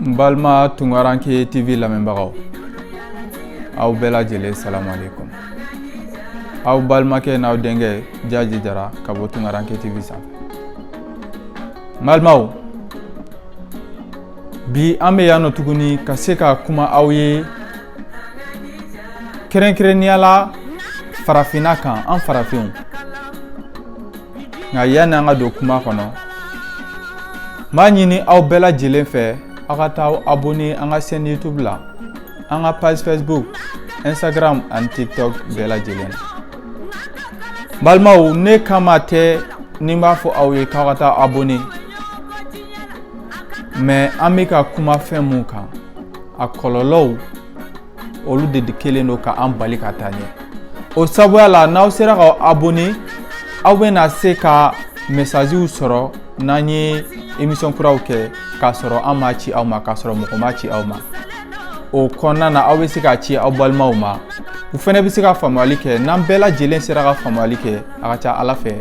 n balima tunkaranke tv lamɛnbagaw aw bɛɛ lajɛlen salamu alaikum aw balimakɛ n'aw denkɛ jaji jara ka bɔ tunkaranke tv sanfɛ n balimaw bi an bɛ yan nɔ tuguni ka se ka kuma aw ye kɛrɛnkɛrɛnnenya la farafinna kan an farafinw nka yanni an ka don kuma kɔnɔ n b'a ɲini aw bɛɛ lajɛlen fɛ aw ka taa aw abonné an ka chaîne YouTube la an ka page Facebook Instagram ani TikTok bɛɛ lajɛlen la balimaw ne kama tɛ ni n b'a fɔ aw ye k'aw ka taa abonné mais an bɛ ka kuma fɛn mun kan a kɔlɔlɔw olu de kɛlen don ka an bali ka taa ɲɛ o sabuya la n'aw sera ka abonné aw bɛna se ka messagew sɔrɔ n'an ye émission kuraw kɛ k'a sɔrɔ an m'a ci aw ma k'a sɔrɔ mɔgɔ m'a ci aw ma o kɔnɔna na aw bɛ se k'a ci aw balimaw ma u fɛnɛ bɛ se ka faamuyali kɛ n'an bɛɛ lajɛlen sera ka faamuyali kɛ a ka ca ala fɛ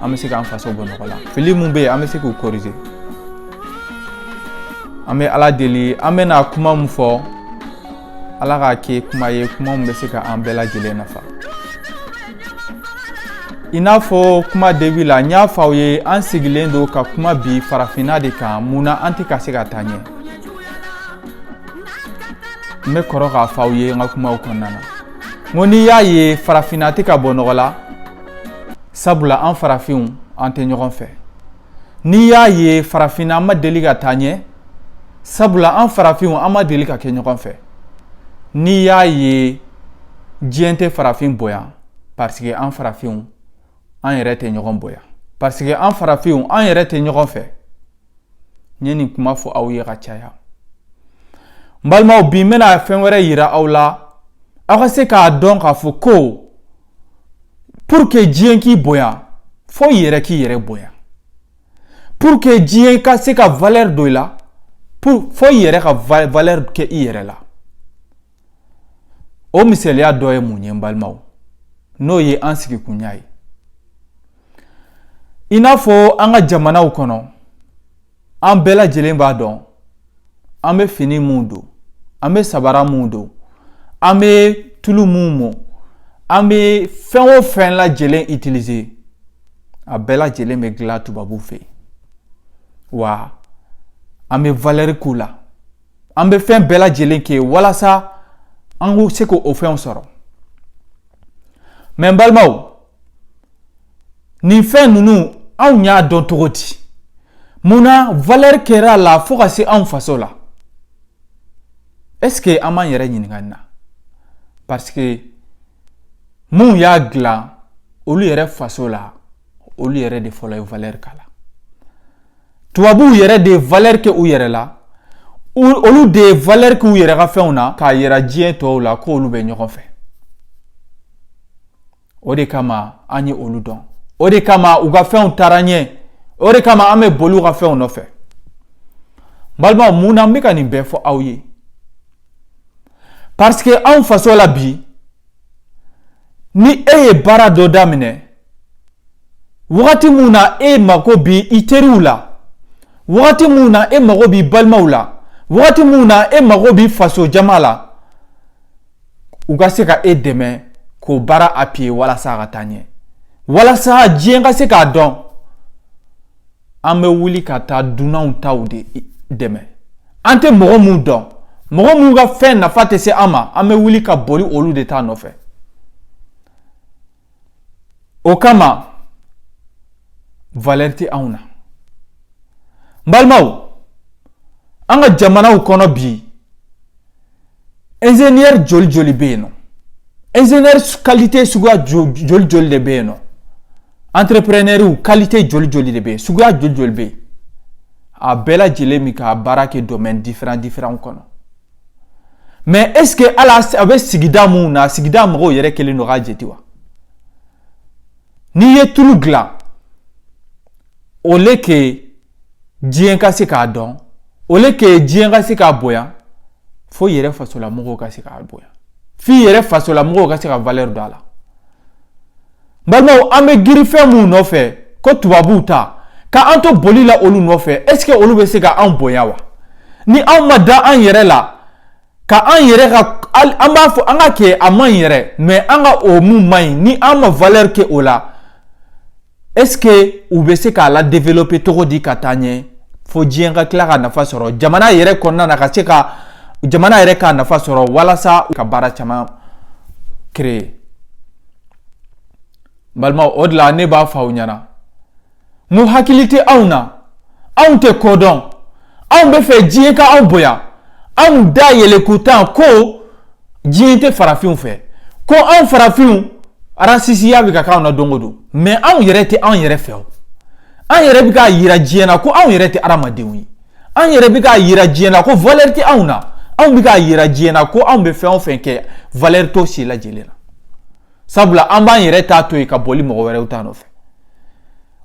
an bɛ se k'an faso bɔ nɔgɔ la fili mun bɛ yen an bɛ se k'u corriger an bɛ ala deli an bɛna kuma mun fɔ ala k'a kɛ kuma ye kuma mun bɛ se ka an bɛɛ lajɛlen nafa i n'a fɔ kuma début la n y'a fɔ aw ye an sigilen don ka kuma bi farafinna de kan mun na an tɛ ka se ka taa ɲɛ n bɛ kɔrɔ k'a fɔ aw ye n ka kumaw kɔnɔna na n ko n'i y'a ye farafinna tɛ ka bɔ nɔgɔ la sabula an farafinw an tɛ ɲɔgɔn fɛ n'i y'a ye farafinna an ma deli ka taa ɲɛ sabula an farafinw an ma deli ka kɛ ɲɔgɔn fɛ n'i y'a ye diɲɛ tɛ farafin bonya parce que an farafinw an yɛrɛ tɛ ɲɔgɔn bonya parce que an farafinw an yɛrɛ tɛ ɲɔgɔn fɛ n ye nin kuma fɔ aw ye ka caya n balimaw bi n bɛna fɛn wɛrɛ yira aw la aw ka se k'a dɔn k'a fɔ ko pour que diɲɛ k'i bonya fo i yɛrɛ k'i yɛrɛ bonya pour que diɲɛ ka se ka valeur don i la pour fo i yɛrɛ ka valeur kɛ i yɛrɛ la o misaliya dɔ ye mun ye n balimaw n'o ye an sigikunya ye i n'a fɔ an ka jamanaw kɔnɔ an bɛɛ lajɛlen b'a dɔn an bɛ fini minw don an bɛ sabara minw don an bɛ tulu minw mɔ an bɛ fɛn o fɛn lajɛlen utiliser a bɛɛ lajɛlen bɛ dilan tubabuw fɛ wa an bɛ valeur k'u la an bɛ fɛn bɛɛ lajɛlen kɛ walasa an ka se k'o fɛnw sɔrɔ mais n balimaw nin fɛn ninnu anw y'a dɔn cogo di mun na valɛri kɛra a la fo ka se anw faso la ɛseke an b'an yɛrɛ ɲininka nin na paseke minnu y'a dilan olu yɛrɛ faso la olu yɛrɛ de fɔlɔ ye valɛri k'a la tubabuw yɛrɛ de ye valɛri kɛ u yɛrɛ la olu de ye valɛri k'u yɛrɛ ka fɛnw na k'a yira diɲɛ tɔw la k'olu bɛ ɲɔgɔn fɛ o de kama an ye olu dɔn o de kama u ka fɛnw taara ɲɛ o de kama an bɛ boli u ka fɛnw nɔfɛ balimaw mun na n bɛ ka nin bɛɛ fɔ aw ye parce que anw faso la bi ni e ye baara dɔ daminɛ wagati mun na e mago b'i teriw la wagati mun na e mago b'i balimaw la wagati mun na e mago b'i faso jama la u ka se ka e dɛmɛ k'o baara appuyer walasa a ka taa ɲɛ walasa diɲɛ ka se k'a dɔn an bɛ wuli ka taa dunanw taw de dɛmɛ an tɛ mɔgɔ minnu dɔn mɔgɔ minnu ka fɛn nafa tɛ se an ma an bɛ wuli ka boli olu de ta nɔfɛ o kama valɛri tɛ anw na n balimaw an ka jamanaw kɔnɔ bi enzeniyɛri joli joli bɛ yen nɔ enzeniyɛri kalite suguya joli joli de bɛ yen nɔ antereprenɛriw kalite joli joli de bɛ yen suguya joli joli bɛ yen a bɛɛ lajɛlen bɛ ka baara kɛ domɛni diferan diferanw kɔnɔ Mais est-ce que ala a bɛ sigida mun na sigida mɔgɔw yɛrɛ kelen don k'a jate wa n'i ye tulu dilan au lieu que diɲɛ ka se k'a dɔn au lieu que diɲɛ ka se k'a bonya fo i yɛrɛ fasolamɔgɔw ka se k'a bonya f'i yɛrɛ fasolamɔgɔw ka se ka valeur don a la balimaw an bɛ girin fɛn minnu nɔfɛ ko tubabuw ta ka an to boli la olu nɔfɛ est ce que olu bɛ se ka an bonya wa ni anw ma da an yɛrɛ la ka an yɛrɛ ka an b'a fɔ an ka kɛ a man ɲi yɛrɛ mais an ka o mun man ɲi ni an ma valeur kɛ o la est ce que u bɛ se k'a la développer cogo di ka taa ɲɛ fo diɲɛ ka tila ka nafa sɔrɔ jamana yɛrɛ kɔnɔna na ka se ka jamana yɛrɛ ka nafa sɔrɔ walasa ka baara caman créer balima o de la ne b'a fɔ aw ɲɛna n ko hakili tɛ anw na anw tɛ ko dɔn anw bɛ fɛ diɲɛ ka anw bonya anw da yɛlɛ ko tan ko diɲɛ tɛ farafinw fɛ ko anw farafinw arasisiya bɛ ka k'anw na don o don mɛ anw yɛrɛ tɛ anw yɛrɛ fɛ o an yɛrɛ bɛ k'a yira diɲɛ na ko anw yɛrɛ tɛ adamadenw ye an yɛrɛ bɛ k'a yira diɲɛ na ko valeur tɛ anw na anw bɛ k'a yira diɲɛ na ko anw bɛ fɛn o fɛn kɛ valeur t'o si lajɛlen na sabula an b'an yɛrɛ ta to yen ka boli mɔgɔ wɛrɛw ta nɔfɛ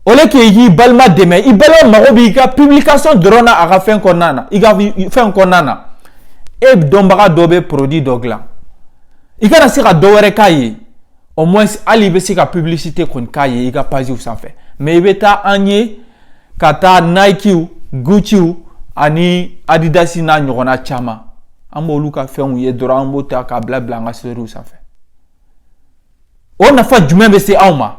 au lieu k'i k'i balima dɛmɛ i balima mago b'i ka publication dɔrɔn na a ka fɛn kɔnɔna na i ka fɛn kɔnɔna na e dɔnbaga dɔ bɛ produit dɔ dilan i kana se ka dɔ wɛrɛ k'a ye au moins hali i bɛ se ka publicité kɔni k'a ye i ka page sanfɛ mais i bɛ taa an ye ka taa nikew gucciw ani adidas n'a ɲɔgɔnna caman an b'olu ka fɛnw ye dɔrɔn an b'o ta k'a bila bila an ka storyw sanfɛ o nafa jumɛn bɛ se anw ma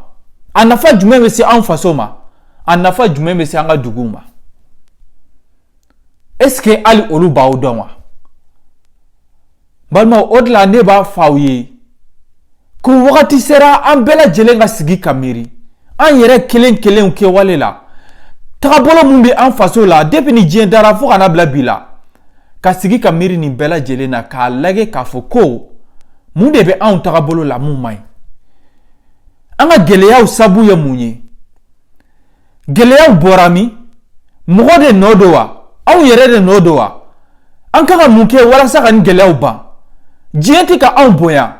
a nafa jumɛn bɛ se anw faso ma a nafa jumɛn bɛ se an ka duguw ma est ce que hali olu b'aw dɔn wa balimaw o de la ne b'a fɔ aw ye ko wagati sera an bɛɛ lajɛlen ka sigi ka miiri an yɛrɛ kelen kelenw kɛwale la tagabolo min bɛ an faso la depuis ni diɲɛ dara fo ka na bila bi la ka sigi ka miiri nin bɛɛ lajɛlen na k'a lajɛ k'a fɔ ko mun de bɛ anw tagabolo la mun man ɲi an ka gɛlɛyaw sabu ye mun ye gɛlɛyaw bɔra min mɔgɔ de nɔ don wa anw yɛrɛ de nɔ don wa an kan ka mun kɛ walasa ka nin gɛlɛyaw ban diɲɛ tɛ ka anw bonya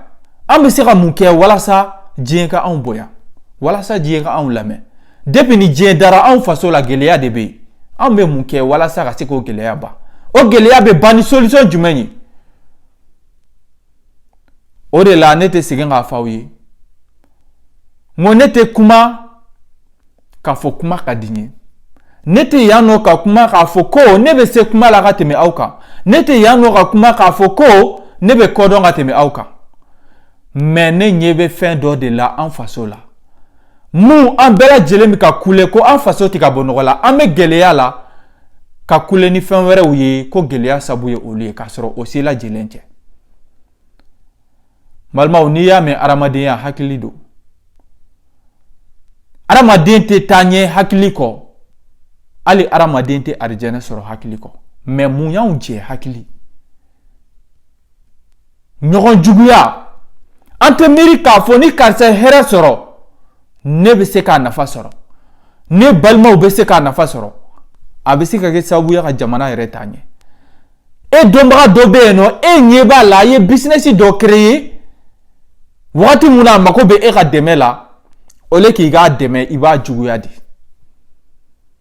an bɛ se ka mun kɛ walasa diɲɛ ka anw bonya walasa diɲɛ ka anw lamɛn depuis ni diɲɛ dara anw faso la gɛlɛya de bɛ yen anw bɛ mun kɛ walasa ka se k'o gɛlɛya ban o gɛlɛya bɛ ban ni solution jumɛn ye o de la ne tɛ segin k'a fɔ aw ye n ko ne tɛ kuma k'a fɔ kuma ka di n ye ne tɛ yan nɔ ka kuma k'a fɔ ko ne bɛ se kuma la ka tɛmɛ aw kan ne tɛ yan nɔ ka kuma k'a fɔ ko ne bɛ ko dɔn ka tɛmɛ aw kan mais ne ɲɛ bɛ fɛn dɔ de la an faso la mun an bɛɛ lajɛlen bɛ ka kule ko an faso tɛ ka bɔ nɔgɔ la an bɛ gɛlɛya la ka kule ni fɛn wɛrɛw ye ko gɛlɛya sabu ye olu ye k'a sɔrɔ o si lajɛlen tɛ balimaw n'i y'a mɛn adamadenya hakili don adamaden tɛ taa ɲɛ hakili kɔ hali adamaden tɛ arijɛnɛ sɔrɔ hakili kɔ mais mun y'anw jɛ hakili ɲɔgɔn juguya an tɛ miiri k'a fɔ ni karisa ye hɛrɛ sɔrɔ ne bɛ se k'a nafa sɔrɔ ne balimaw bɛ se k'a nafa sɔrɔ a bɛ se ka kɛ sababu ye ka jamana yɛrɛ taa ɲɛ e dɔnbaga dɔ bɛ yen nɔ e ɲɛ b'a la a ye business dɔ créer wagati mun na a mago bɛ e ka dɛmɛ la au lieu k'i k'a dɛmɛ i b'a juguya de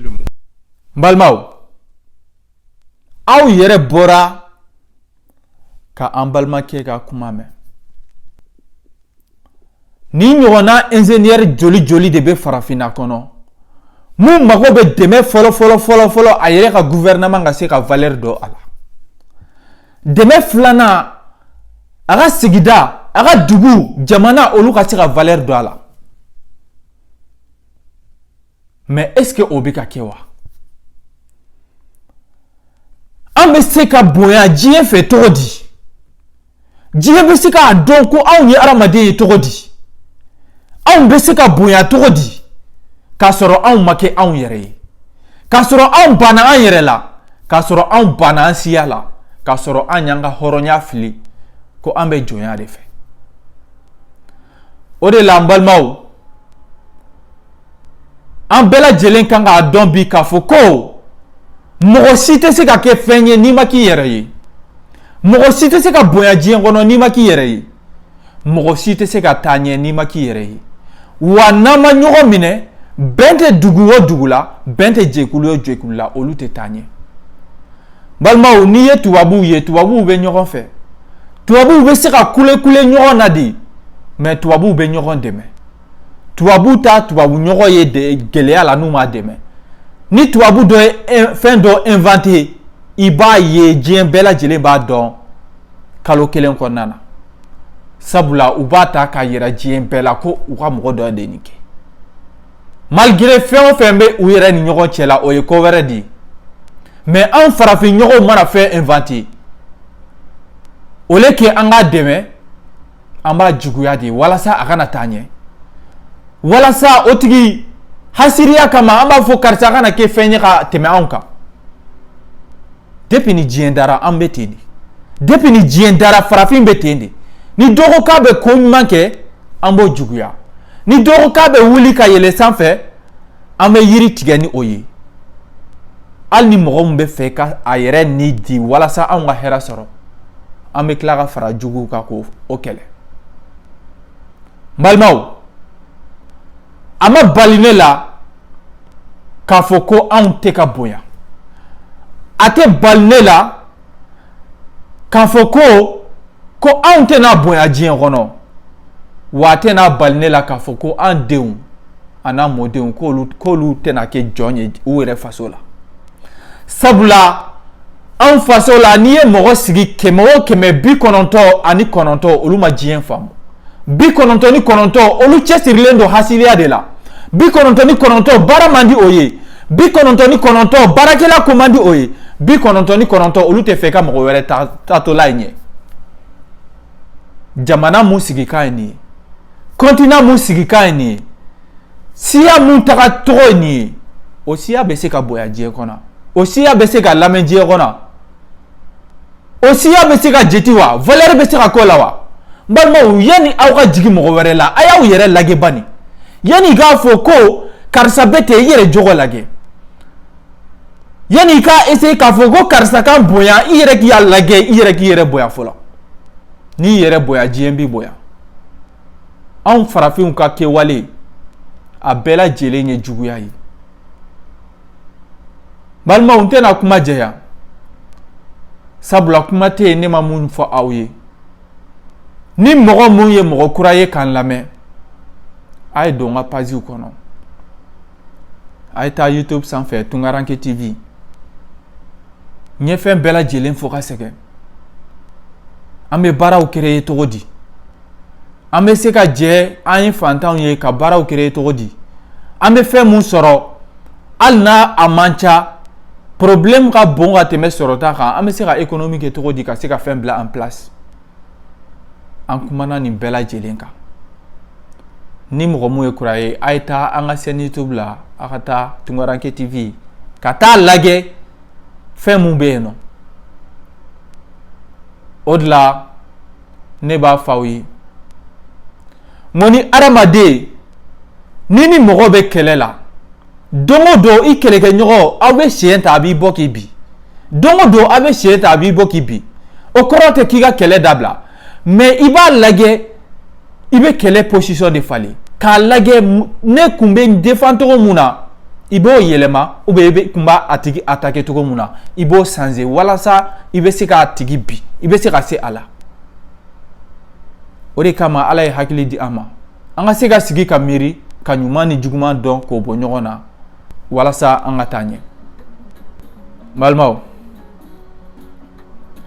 N balimaw aw yɛrɛ bɔra ka an balimakɛ ka kuma mɛn nin ɲɔgɔnna inzenyɛri joli joli de bɛ farafinna kɔnɔ min mago bɛ dɛmɛ fɔlɔ fɔlɔ fɔlɔ fɔlɔ a yɛrɛ ka gufɛrɛnaman ka se ka valɛri don a la dɛmɛ filanan a ka sigida a ka dugu jamana olu ka se ka valɛri don a la mais est ce que o bɛ ka kɛ wa an bɛ se ka bonya diɲɛ fɛ cogo di diɲɛ bɛ se k'a dɔn ko anw ye adamaden ye cogo di anw bɛ se ka bonya cogo di k'a sɔrɔ anw ma kɛ anw yɛrɛ ye k'a sɔrɔ anw banna an yɛrɛ la k'a sɔrɔ anw banna an siya la k'a sɔrɔ an y'an ka hɔrɔnya fili ko an bɛ jɔnya de fɛ o de la an balimaw an bɛɛ lajɛlen kan k'a dɔn bi k'a fɔ ko mɔgɔ si tɛ se ka kɛ fɛn ye n'i ma k'i yɛrɛ ye mɔgɔ si tɛ se ka bonya diɲɛ kɔnɔ n'i ma k'i yɛrɛ ye mɔgɔ si tɛ se ka taa ɲɛ n'i ma k'i yɛrɛ ye wa n'an ma ɲɔgɔn minɛ bɛn tɛ dugu o dugu la bɛn tɛ jɛkulu o jɛkulu la olu tɛ taa ɲɛ balimaw n'i ye tubabuw ye tubabuw bɛ ɲɔgɔn fɛ tubabuw bɛ se ka kulekule ɲɔgɔn na de mais tubabuw bɛ ɲɔgɔn dɛmɛ tubabu t'a tubabu ɲɔgɔn ye gɛlɛya la n'u m'a dɛmɛ ni tubabu dɔ ye fɛn dɔ inventé i b'a ye diɲɛ bɛɛ lajɛlen b'a dɔn kalo kelen kɔnɔna na sabula u b'a ta k'a yira diɲɛ bɛɛ la ko u ka mɔgɔ dɔ de nin kɛ Malgré fɛn o fɛn bɛ u yɛrɛ ni ɲɔgɔn cɛ la o ye ko wɛrɛ de ye mais an farafin ɲɔgɔn mana fɛn inventé au lieu que an k'a dɛmɛ an b'a juguya de walasa a kana taa ɲɛ walasa o tigi hasiriya kama an b'a fɔ karisa kana kɛ fɛn ye ka tɛmɛ anw kan depuis ni diɲɛ dara an bɛ ten de depuis ni diɲɛ dara farafin bɛ ten de ni dɔ ko k'a bɛ ko ɲuman kɛ an b'o juguya ni dɔ ko k'a bɛ wuli ka yɛlɛ sanfɛ an bɛ yiri tigɛ ni o ye hali ni mɔgɔ min bɛ fɛ ka a yɛrɛ ni di walasa anw ka hɛrɛ sɔrɔ an bɛ tila ka fara juguw kan k'o kɛlɛ balimaw a ma bali ne la k'a fɔ ko anw tɛ ka bonya a tɛ bali ne la k'a fɔ ko ko anw tɛna bonya diɲɛ kɔnɔ wa a tɛna bali ne la k'a fɔ ko an denw an'an mɔdenw k'olu k'olu tɛna kɛ jɔn ye u yɛrɛ faso la sabula anw faso la n'i ye mɔgɔ sigi kɛmɛ o kɛmɛ bi kɔnɔntɔn ani kɔnɔntɔn olu ma diɲɛ faamu bi kɔnɔntɔn ni kɔnɔntɔn olu cɛsirilen don hasiliya de la bi kɔnɔntɔn ni kɔnɔntɔn baara man di o ye bi kɔnɔntɔn ni kɔnɔntɔn baarakɛla ko man di o ye bi kɔnɔntɔn ni kɔnɔntɔn olu tɛ fɛ ka mɔgɔ wɛrɛ taatɔla ye ɲɛ jamana mun sigikan ye nin ye continent mun sigikan ye nin ye siya mun taga tɔgɔ ye nin ye o siya bɛ se ka bonya diɲɛ kɔnɔ o siya bɛ se ka lamɛn diɲɛ kɔnɔ o siya bɛ se ka jeti wa valeur bɛ se ka k'o la wa n balimaw yanni aw ka jigin mɔgɔ wɛrɛ la a y'aw yɛrɛ lajɛ bani yanni i k'a fɔ ko karisa bɛ ten i yɛrɛ jogo lajɛ yanni i k'a essayer k'a fɔ ko karisa ka n bonya i yɛrɛ k'i lajɛ i yɛrɛ k'i yɛrɛ bonya fɔlɔ n'i yɛrɛ bonya diɲɛ b'i bonya anw farafinw ka kɛwale a bɛɛ lajɛlen ye juguya ye balimaw n tɛna kuma janya sabula kuma tɛ yen ne ma mun fɔ aw ye ni mɔgɔ mun ye mɔgɔ kura ye k'an lamɛn a ye don n ka paziw kɔnɔ a ye taa youtube sanfɛ tunkaranke tv n ye fɛn bɛɛ lajɛlen fɔ ka sɛgɛn an bɛ baaraw créer cogo di an bɛ se ka jɛ an ye fantanw ye ka baaraw créer cogo di an bɛ fɛn min sɔrɔ hali n'a a man ca problème ka bon ka tɛmɛ sɔrɔta kan an bɛ se ka économie kɛ cogo di ka se ka fɛn bila en place an kumana nin bɛɛ lajɛlen kan ni mɔgɔ min ye kura ye a ye taa an ka chaîne youtube la aw ka taa tunkaranke tv ka taa lajɛ fɛn mun bɛ yen nɔ o de la ne b'a fɔ aw ye n ko ni adamaden ni ni mɔgɔ bɛ kɛlɛ la don o don i kɛlɛkɛɲɔgɔn aw bɛ siɲɛ ta a b'i bɔ k'i bin don o don aw bɛ siɲɛ ta a b'i bɔ k'i bin o kɔrɔ tɛ k'i ka kɛlɛ dabila mais i b'a lajɛ i bɛ kɛlɛ position de falen k'a lajɛ ne kun bɛ n défend cogo mun na i b'o yɛlɛma ou bien i bɛ kun b'a a tigi attaquer cogo mun na i b'o changer walasa i bɛ se k'a tigi bin i bɛ se ka se a la o de kama ala ye hakili di an ma an ka se ka sigi ka miiri ka ɲuman ni juguman dɔn k'o bɔ ɲɔgɔn na walasa an ka taa ɲɛ balimaw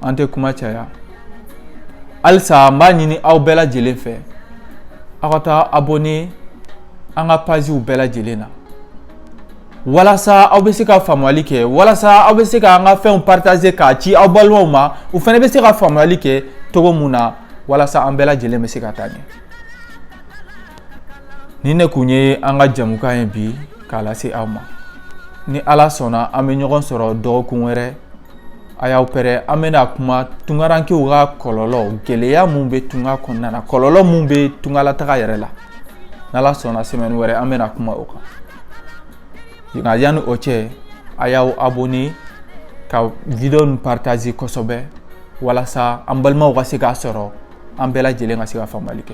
an tɛ kuma caya halisa n b'a ɲini aw bɛɛ lajɛlen fɛ aw ka taa abonné an ka paziw bɛɛ lajɛlen na walasa aw bɛ se ka faamuyali kɛ walasa aw bɛ se ka an ka fɛnw partager k'a ci aw balimaw ma u fana bɛ se ka faamuyali kɛ cogo mun na walasa an bɛɛ lajɛlen bɛ se ka taa ɲɛ nin de tun ye an ka jamukan ye bi k'a lase aw ma ni ala sɔnna an bɛ ɲɔgɔn sɔrɔ dɔgɔkun wɛrɛ a y'aw pɛrɛ an bɛna kuma tungarankew ka kɔlɔlɔ gɛlɛya min bɛ tunga kɔnɔna na kɔlɔlɔ min bɛ tungalataga yɛrɛ la n'ala sɔnna semaine wɛrɛ an bɛna kuma o kan nka yanni o cɛ a y'aw abonné ka video nin partager kosɛbɛ walasa an balimaw ka se k'a sɔrɔ an bɛɛ lajɛlen ka se ka faamuyali kɛ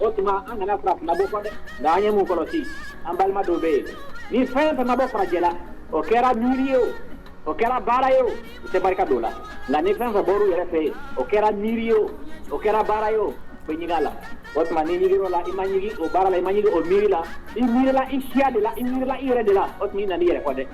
o tuma an kana farafinna bɔ kɔ dɛ nka an ye mun kɔlɔsi an balima dɔw bɛ yen ni fɛn fɛn ma bɔ farajɛ la o kɛra miiri ye o o kɛra baara ye o u tɛ barika don o la nka ni fɛn fɛn bɔr'u yɛrɛ fɛ yen o kɛra miiri ye o o kɛra baara ye o u bɛ ɲigin a la o tuma n'i ɲigir'o la i ma ɲigin o baara la i ma ɲigin o miiri la i miirila i siya de la i miirila i yɛrɛ de la o tuma i nana i yɛrɛ kɔ dɛ